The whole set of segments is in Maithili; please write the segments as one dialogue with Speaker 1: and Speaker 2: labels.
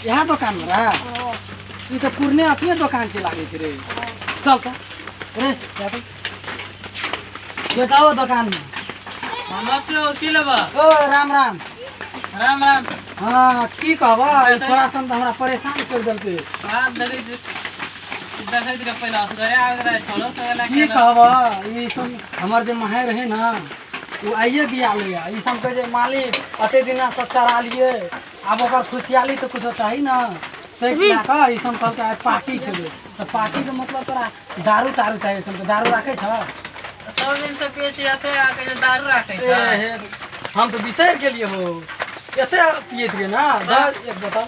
Speaker 1: इएह दोकान मे रहा ई तऽ पुरने अपने दोकान छै लागै छै रे चल तऽ रे जा तऽ। ये जाओ दोकान मे ओ राम राम राम राम हाँ की कहबा ई छोरा सब तऽ हमरा परेशान कर देलकै हाथ धरे छै देखैत रहे पहिले असगरे आबैत रहे छड़ो सगेला की कहबह ई सब हमर जे माहे रहे ने ओ आइए बिया लैया ई सब कहै जे मालिक एते दिना से चरालिए आब ओकर खुशियाली तऽ कुछो चाही ने ताहि लए कऽ ई सब कहलकै आइ पार्टी खेबै तऽ पार्टीके मतलब तोरा दारू तारू चाही ई सब दारू राखै छह सब दिन से पिए छी एते आ कहियो दारू राखै ए, छै हे, हम तऽ बिसरि गेलिए हो एते पियैत रहिए ने दऽ एक बोतल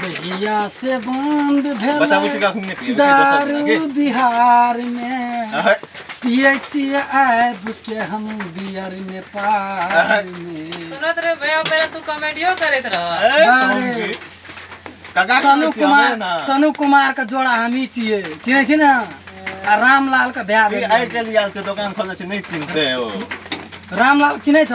Speaker 1: भैया से बंद भेल दारू बिहार में पिए छिए आब के हम बियर नेपाल में सुनत रे भैया पहले तू कॉमेडियो करत रह काका सनु कुमार सनु कुमार के जोड़ा हमी छिए चिन्है छी ने आ रामलाल के भए गेल आइ काल्हि आयल छै दोकान खोलने छै नहि चिन्हते ओ रामलाल चिन्है छ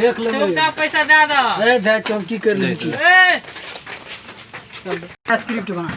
Speaker 1: देख ले चौका पैसा दे दो ए धा चौकी कर ले स्क्रिप्ट बना